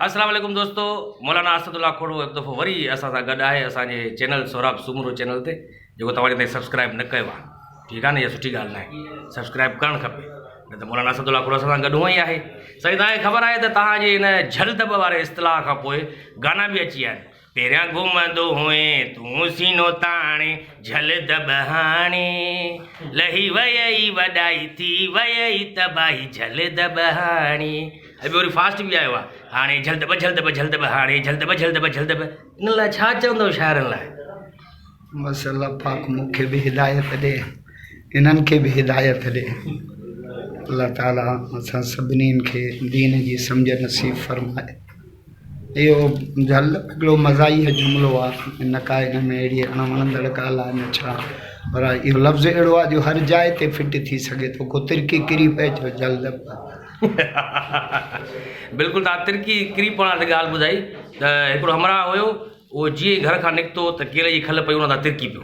السلام عليڪم دوستو مولانا اسد الله کھوڙو هڪ دفعو وري اسان سان گڏ آهي اسان جي چينل سهراب سومرو چينل تي جيڪو توهان جي تائين سبسڪرائب نه ڪيو آهي ٺيڪ آهي نه اها سٺي ڳالهه ناهي سبسڪرائب ڪرڻ کپي نه ته مولانا اسد الله کھوڙو اسان سان گڏ هونء ئي آهي سائين توهان کي خبر آهي ته توهان جي ان جھل دٻ واري اصطلاح کان پوء گانا به اچي ويا آهن پهريان گهمندو هئين تون سينو تاڻي، جهل دٻ هاڻي لهي ويئي وڏائي، ٿي ويئي تباهي جهل دٻ هاڻي. هي به وري فاسٽ بي آيو آ هاڻي جهل دٻ جهل دٻ جهل دٻ هاڻي جهل دٻ جهل دٻ جهل دٻ ان لاء ڇا چوندو شاعرن لاء. بس الله پاڪ مون کي به هدايت ڏي انهن کي به هدايت ڏي الله تعالي اسان سڀني کي دين جي سمجهه نصيب فرمائي. اهو جهل هڪڙو مزاحيه جملو آ نه ڪا ان ۾ اهڙي اڻ وڻندڙ ڳالهه آ نه ڇا پر اهو لفظ اهڙو آ جو هر جاء تي فٽ ٿي سگهي ٿو ڪو ترڪي ڪري پئي جو جهل بلڪل توهان ترڪي ڪري پوڻ آ تي ڳالهه ٻڌائي ته هڪڙو همراهه هيو اهو جيئن ئي گهر کان نڪتو ته ڪيلي جي کل پئي ان تان ترڪي پيو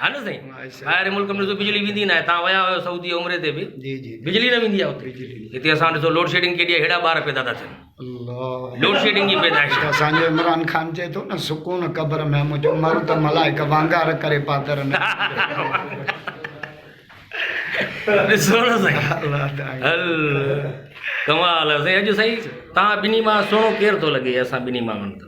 ها نه سائين ٻاهر ملڪ ۾ بجلي ويندي ناهي تان ويا هيو سعودي عمري تي به جي جي بجلي نه ويندي آهي اتي هتي اسان ڏسو لوڊ شيڊنگ ڪيڏي هيڙا ٻار پيدا ٿا ٿين الله لوڊ شيڊنگ جي پيدائش اسان جو عمران خان چي ٿو نه سڪون قبر ۾ مجھ عمر ته ملائڪ وانگار ڪري پادر نه ڏسو نه سائين الله تعالی هل ڪمال سائين اڄ سائين تان بني ما سونو ڪير ٿو لڳي اسان بني ما من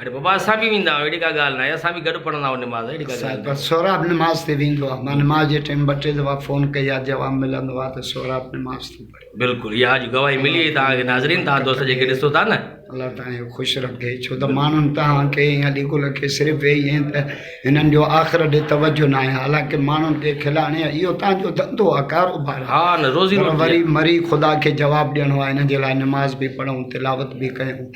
اڙي بابا اسان به ويندا آهيون اهڙي ڪا ڳالهه ناهي اسان به گڏ پڙهندا آهيون نماز اهڙي ڪا ڳالهه ناهي پر سهراب نماز تي ويندو آهي مان نماز جي ٽيم ٻه ٽي دفعا فون ڪئي آهي جواب ملندو آهي ته سهراب نماز ٿو پڙهي بلڪل اها اڄ گواهي ملي وئي توهان کي ناظرين توهان دوست جيڪي ڏسو ٿا نه الله تعالیٰ جو خوش رکي ڇو ته ماڻهن تهان کي يا ليگل کي صرف اهي ائين ته هنن جو آخر ڏي توجه نه آهي حالانڪه ماڻهن کي کلاڻي اهو تهان جو ڌنڌو آهي ڪاروبار ها نه روزي روٽي وري مري خدا کي جواب ڏيڻو آهي هن جي لاء نماز به پڙهون تلاوت به ڪيون